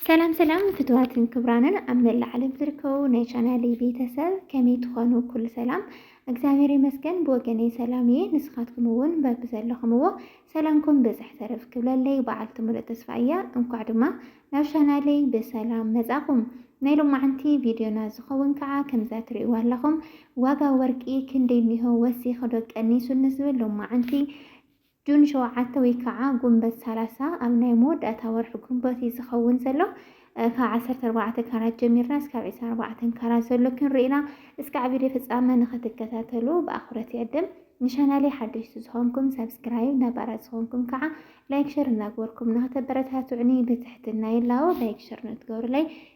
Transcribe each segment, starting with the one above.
ሰላም ሰላም ፍትዋትን ክብራንን ኣብ መላእ ዓለም ዝርከቡ ናይ ቻናለይ ቤተሰብ ከመይ ትኾኑ? ኩሉ ሰላም እግዚኣብሔር ይመስገን ብወገነይ ሰላም እየ። ንስኻትኩም እውን በቢ ዘለኹምዎ ሰላምኩም ብዝሕ ተረፍ ክብለለይ በዓልቲ ሙሉእ ተስፋ እያ። እንኳዕ ድማ ናብ ቻናለይ ብሰላም መጻኹም። ናይ ሎማዓንቲ ቪድዮና ዝኸውን ከዓ ከምዛ ትርእይዋ ኣለኹም ዋጋ ወርቂ ክንደይ እኒሆ ወሲኽዶ ቀኒሱ ንዝብል ሎማዓንቲ ጁን ሸውዓተ ወይ ካዓ ጉንበት ሰላሳ ኣብ ናይ መወዳእታ ወርሒ ጉንበት እዩ ዝኸውን ዘሎ። ካብ ዓሰርተ ኣርባዕተ ካራት ጀሚርና እስካብ ዕስራን ኣርባዕተን ካራት ዘሎ ክንርኢ ኢና። እስካዕ ቪድዮ ፍጻመ ንክትከታተሉ ብኣኽብሮት ይዕድም። ንቻናለይ ሓደሽቲ ዝኾንኩም ሳብስክራይብ ነባራት ዝኾንኩም ካዓ ላይክ ሸር እናግበርኩም ንክተበረታትዑኒ ብትሕትና ይላቦ። ላይክ ሸር ንእትገብሩለይ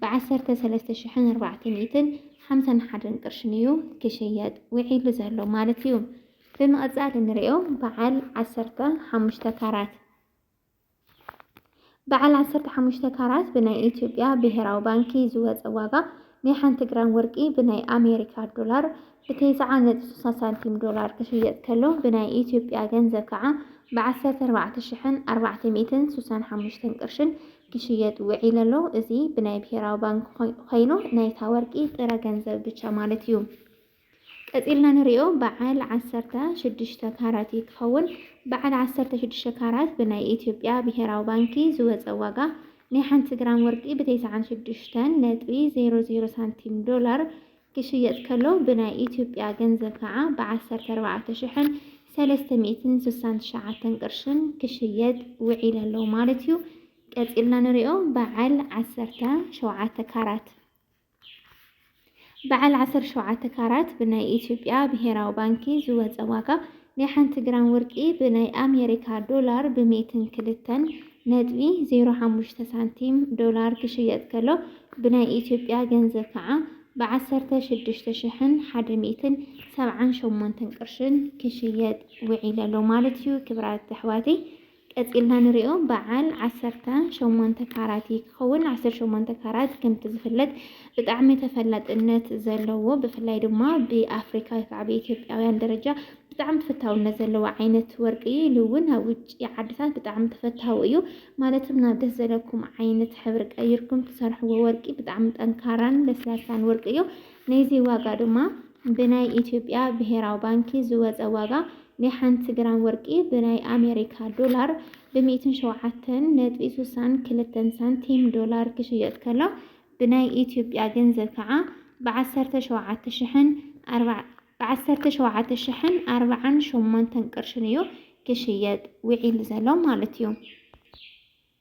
ብዓሰርተ ሰለስተ ሽሕን ኣርባዕተ ሚእትን ሓምሳን ሓደን ቅርሽን እዩ ክሽየጥ ውዒሉ ዘሎ ማለት እዩ። ብምቕጻል እንሪኦ በዓል ዓሰርተ ሓሙሽተ ካራት በዓል ዓሰርተ ሓሙሽተ ካራት ብናይ ኢትዮጵያ ብሄራዊ ባንኪ ዝወፀ ዋጋ ናይ ሓንቲ ግራም ወርቂ ብናይ ኣሜሪካ ዶላር ብተስዓ ነጥቢ ስሳ ሳንቲም ዶላር ክሽየጥ ከሎ ብናይ ኢትዮጵያ ገንዘብ ከዓ ብዓሰርተ ኣርባዕተ ሽሕን ኣርባዕተ ሚእትን ስሳን ሓሙሽተን ቅርሽን ክሽየጥ ውዒለ ኣሎ። እዚ ብናይ ብሄራዊ ባንኪ ኮይኑ ናይታ ወርቂ ጥረ ገንዘብ ብቻ ማለት እዩ። ቀፂልና ንሪኦ በዓል ዓሰርተ ሽዱሽተ ካራት እዩ ክኸውን። በዓል ዓሰርተ ሽዱሽተ ካራት ብናይ ኢትዮጵያ ብሄራዊ ባንኪ ዝወፀ ዋጋ ናይ ሓንቲ ግራም ወርቂ ብተስዓን ሽዱሽተን ነጥቢ ዜሮ ዜሮ ሳንቲም ዶላር ክሽየጥ ከሎ ብናይ ኢትዮጵያ ገንዘብ ከዓ ብ ዓሰርተ ኣርባዕተ ሽሕን ሰለስተ ሚእትን ስሳን ትሽዓተን ቅርሽን ክሽየጥ ውዒል ኣሎ ማለት እዩ። ቀፂልና ንሪኦ በዓል ዓሰርተ ሸውዓተ ካራት በዓል ዓሰርተ ሸውዓተ ካራት ብናይ ኢትዮጵያ ብሄራዊ ባንኪ ዝወፀ ዋጋ ናይ ሓንቲ ግራም ወርቂ ብናይ ኣሜሪካ ዶላር ብ ሚእትን ክልተን ነጥቢ ዜሮ ሓሙሽተ ሳንቲም፣ ዶላር፣ ክሽየጥ ከሎ ብናይ ኢትዮጵያ ገንዘብ ከዓ ብ ዓሰርተ ሽዱሽተ ሽሕን ሓደ ሚእትን ሰብዓን ሸሞንተን ቅርሽን ክሽየጥ ውዒለሎ ማለት እዩ ክብራት ኣሕዋተይ። ቀጺልና ንሪኦ በዓል ዓሰርተ ሸሞንተ ካራት እዩ ክኸውን። ዓሰርተ ሸሞንተ ካራት ከምቲ ዝፍለጥ ብጣዕሚ ተፈላጥነት ዘለዎ ብፍላይ ድማ ብኣፍሪካ ወይ ከዓ ብኢትዮጵያውያን ደረጃ ብጣዕሚ ተፈታውነት ዘለዎ ዓይነት ወርቂ እዩ ኢሉ እውን ኣብ ውጭ ዓድታት ብጣዕሚ ተፈታዊ እዩ ማለት ናብ ደስ ዘለኩም ዓይነት ሕብሪ ቀይርኩም ትሰርሕዎ ወርቂ ብጣዕሚ ጠንካራን ለስላሳን ወርቂ እዩ ነይዚ ዋጋ ድማ ብናይ ኢትዮጵያ ብሄራዊ ባንኪ ዝወጸ ዋጋ ናይ ሓንቲ ግራም ወርቂ ብናይ ኣሜሪካ ዶላር ብ ሚእትን ሸውዓተን ነጥቢ ሱሳን ክልተን ሳንቲም ዶላር ክሽየጥ ከሎ ብናይ ኢትዮጵያ ገንዘብ ከኣ ብ ዓሰርተ ሸውዓተ ሽሕን ኣርባዕ ብ ዓሰርተ ሸውዓተ ሽሕን ኣርባዓን ሸሞንተን ቅርሽን እዩ ክሽየጥ ውዒሉ ዘሎ ማለት እዩ።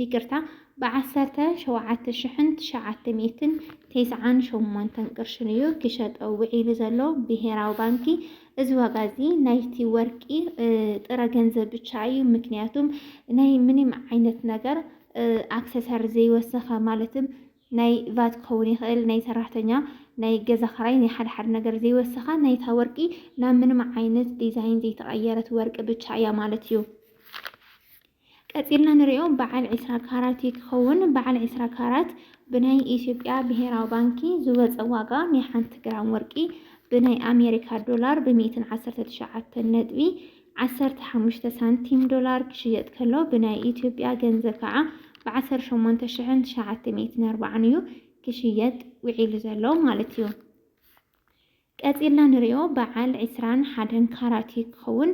ይቅርታ ብዓሰርተ ሸውዓተ ሽሕን ትሽዓተ ሚእትን ቴስዓን ሸሞንተን ቅርሽን እዩ ክሸጦ ውዒሉ ዘሎ ብሄራዊ ባንኪ። እዚ ዋጋ እዚ ናይቲ ወርቂ ጥረ ገንዘብ ብቻ እዩ። ምክንያቱም ናይ ምንም ዓይነት ነገር ኣክሰሰር ዘይወሰኸ ማለትም ናይ ቫት ክኸውን ይኽእል ናይ ሰራሕተኛ ናይ ገዛ ክራይ ናይ ሓደ ሓደ ነገር ዘይወሰኻ ናይታ ወርቂ ናብ ምንም ዓይነት ዲዛይን ዘይተቐየረት ወርቂ ብቻ እያ ማለት እዩ። ቀጺልና ንሪኦ በዓል ዒስራ ካራት እዩ ክኸውን። በዓል ዒስራ ካራት ብናይ ኢትዮጵያ ብሄራዊ ባንኪ ዝወፀ ዋጋ ናይ ሓንቲ ግራም ወርቂ ብናይ ኣሜሪካ ዶላር ብሚእትን ዓሰርተ ትሽዓተን ነጥቢ ዓሰርተ ሓሙሽተ ሳንቲም ዶላር ክሽየጥ ከሎ ብናይ ኢትዮጵያ ገንዘብ ከዓ ብዓሰርተ ሸሞንተ ሽሕን ትሽዓተ ሚእትን ኣርባዓን እዩ ክሽየጥ ውዒሉ ዘሎ ማለት እዩ። ቀጺልና ንሪኦ በዓል ዕስራን ሓደን ካራት እዩ ክኸውን።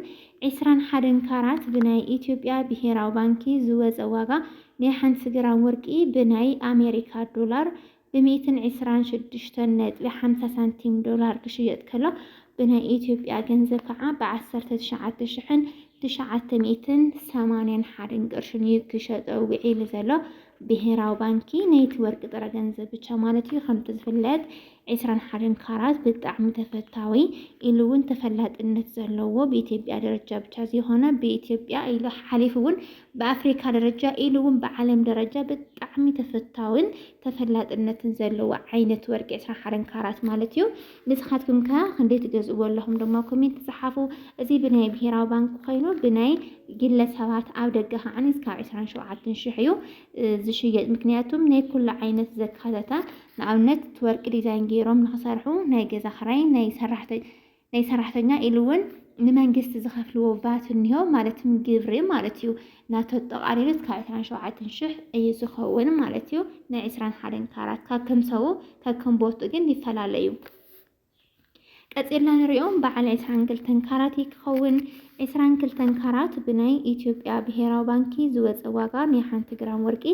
ዕስራን ሓደን ካራት ብናይ ኢትዮጵያ ብሄራዊ ባንኪ ዝወጸ ዋጋ ናይ ሓንቲ ግራም ወርቂ ብናይ ኣሜሪካ ዶላር ብሚእትን ዕስራን ሽዱሽተን ነጥቢ ሓምሳ ሳንቲም ዶላር ክሽየጥ ከሎ ብናይ ኢትዮጵያ ገንዘብ ከዓ ብዓሰርተ ትሽዓተ ሽሕን ትሽዓተ ሚእትን ሰማንያን ሓደን ቅርሽን እዩ ክሸጦ ውዒሉ ዘሎ። ብሄራዊ ባንኪ ናይቲ ወርቂ ጥረ ገንዘብ ብቻ ማለት እዩ። ከምቲ ዝፍለጥ ዕስራን ሓደን ካራት ብጣዕሚ ተፈታዊ ኢሉ ውን ተፈላጥነት ዘለዎ ብኢትዮጵያ ደረጃ ብቻ ዘይኮነ ብኢትዮጵያ ኢሉ ሓሊፉ ውን ብኣፍሪካ ደረጃ ኢሉ ውን ብዓለም ደረጃ ብጣዕሚ ተፈታዊን ተፈላጥነትን ዘለዎ ዓይነት ወርቂ ዕስራን ሓደን ካራት ማለት እዩ። ንስኻትኩም ከ ክንደይ ትገዝእዎ ኣለኹም ድማ ኮሜንት ፀሓፉ። እዚ ብናይ ብሄራዊ ባንክ ኮይኑ ብናይ ግለ ሰባት ኣብ ደገ ከዓ እስካብ ዕስራን ሸውዓትን ሽሕ እዩ ዝሽየጥ። ምክንያቱም ናይ ኩሉ ዓይነት ዘካተተ ንኣብነት እቲ ወርቂ ዲዛይን ገይሮም ንክሰርሑ ናይ ገዛ ክራይ ናይ ሰራሕተ ናይ ሰራሕተኛ ኢሉ እውን ንመንግስቲ ዝኸፍልዎ ቫት እኒሆ ማለት ግብሪ ማለት እዩ ናቶ ኣጠቓሊሉ እስካብ ዕስራን ሸውዓተን ሽሕ እዩ ዝኸውን ማለት እዩ ናይ ዕስራን ሓደን ካራት ካብ ከም ሰቡ ካብ ከም ቦቱ ግን ይፈላለ እዩ ቀጺልና ንሪኦ በዓል ዕስራን ክልተን ካራት እዩ ክኸውን። ዕስራን ክልተን ካራት ብናይ ኢትዮጵያ ብሄራዊ ባንኪ ዝወፀ ዋጋ ናይ ሓንቲ ግራም ወርቂ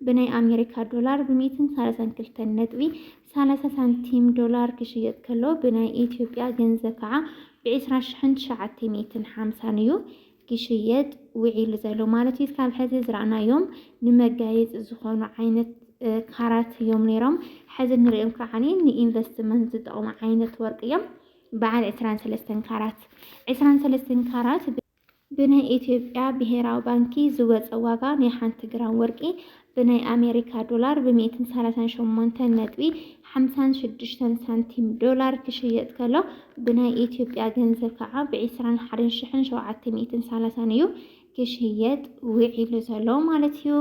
ብናይ ኣሜሪካ ዶላር ብሚእትን ሰላሳን ክልተን ነጥቢ ሰላሳ ሳንቲም ዶላር ክሽየጥ ከሎ ብናይ ኢትዮጵያ ገንዘብ ከዓ ብዕስራ ሽሕን ትሽዓተ ሚእትን ሓምሳን እዩ። ክሽየጥ ውዒሉ ዘሎ ማለት እዩ። ካብ ሕዚ ዝረኣናዮም ንመጋየፂ ዝኾኑ ዓይነት ካራት እዮም ነይሮም። ሕዚ እንሪኦም ከዓ ንኢንቨስትመንት ዝጠቕሙ ዓይነት ወርቂ እዮም። በዓል ዕስራን ሰለስተን ካራት ዕስራን ሰለስተን ካራት ብናይ ኢትዮጵያ ብሄራዊ ባንኪ ዝወፀ ዋጋ ናይ ሓንቲ ግራም ወርቂ ብናይ ኣሜሪካ ዶላር ብ ሚእትን ሰላሳን ሸሞንተን ነጥቢ ሓምሳን ሽዱሽተን ሳንቲም ዶላር ክሽየጥ ከሎ ብናይ ኢትዮጵያ ገንዘብ ከዓ ብ ዕስራን ሓደን ሽሕን ሸውዓተ ሚእትን ሰላሳን እዩ ክሽየጥ ውዒሉ ዘሎ ማለት እዩ።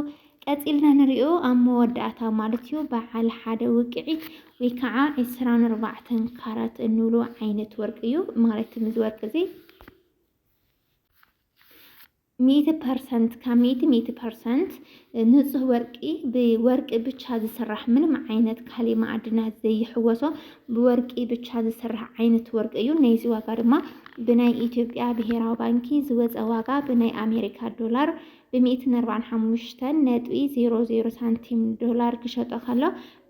ቀጺልና ንሪኦ ኣብ መወዳእታ ማለት እዩ በዓል ሓደ ውቅዒት ወይ ከዓ ዕስራን ኣርባዕተን ካራት እንብሎ ዓይነት ወርቂ እዩ ማለት እዚ ወርቂ እዚ ሚእቲ ፐርሰንት ካብ ሚእቲ ሚእቲ ፐርሰንት ንፁህ ወርቂ ብወርቂ ብቻ ዝስራሕ ምንም ዓይነት ካሊእ ማዕድናት ዘይሕወሶ ብወርቂ ብቻ ዝስራሕ ዓይነት ወርቂ እዩ። ናይዚ ዋጋ ድማ ብናይ ኢትዮጵያ ብሄራዊ ባንኪ ዝወፀ ዋጋ ብናይ ኣሜሪካ ዶላር ብሚእትን ኣርባዕን ሓሙሽተን ነጥቢ ዜሮ ዜሮ ሳንቲም ዶላር ክሸጦ ከሎ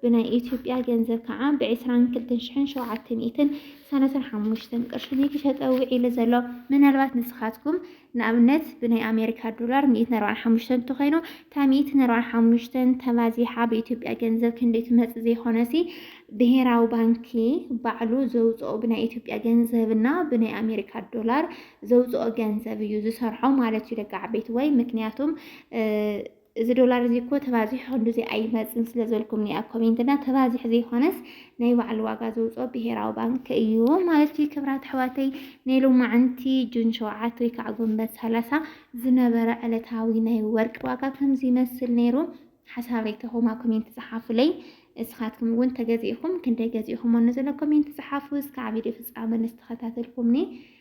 ብናይ ኢትዮጵያ ገንዘብ ከዓ ብ ዕስራን ክልተን ሽሕን ሸውዓተ ሚእትን ሰላሳን ሓሙሽተን ቅርሺ እዩ ክሸጠ ውዒሉ ዘሎ። ምናልባት ንስኻትኩም ንኣብነት ብናይ ኣሜሪካ ዶላር ሚእትን ኣርባዓን ሓሙሽተን እንተኾይኑ እታ ሚእትን ኣርባዓን ሓሙሽተን ተባዚሓ ብኢትዮጵያ ገንዘብ ክንደይ ትመፅእ ዘይኾነሲ ብሄራዊ ባንኪ ባዕሉ ዘውፅኦ ብናይ ኢትዮጵያ ገንዘብ እና ብናይ ኣሜሪካ ዶላር ዘውፅኦ ገንዘብ እዩ ዝሰርሖ ማለት እዩ ደቂ ዓበይቲ ወይ ምክንያቱም እዚ ዶላር እዚ እኮ ተባዚሑ ክንዱዚ ኣይመፅን ስለዘልኩምኒ ኣብ ኮሜንት እና ተባዚሑ ዘይኮነስ ናይ ባዕሉ ዋጋ ዘውፅኦ ብሄራዊ ባንክ እዩ ማለት እዩ። ክብራት ኣሕዋተይ ናይ ሎማዕንቲ ጁን ሸውዓት ወይ ከዓ ጎንበት ሰላሳ ዝነበረ ዕለታዊ ናይ ወርቂ ዋጋ ከምዚ ይመስል ነይሩ። ሓሳብ ሬተኹም ኣብ ኮሜንት ፀሓፉለይ። እስኻትኩም እውን ተገዚእኹም ክንደይ ገዚእኹም ሞ ዘለኩም ኮሜንት ፀሓፉ። እስካዕ ቪድዮ ፍፃመ ንስተኸታተልኩምኒ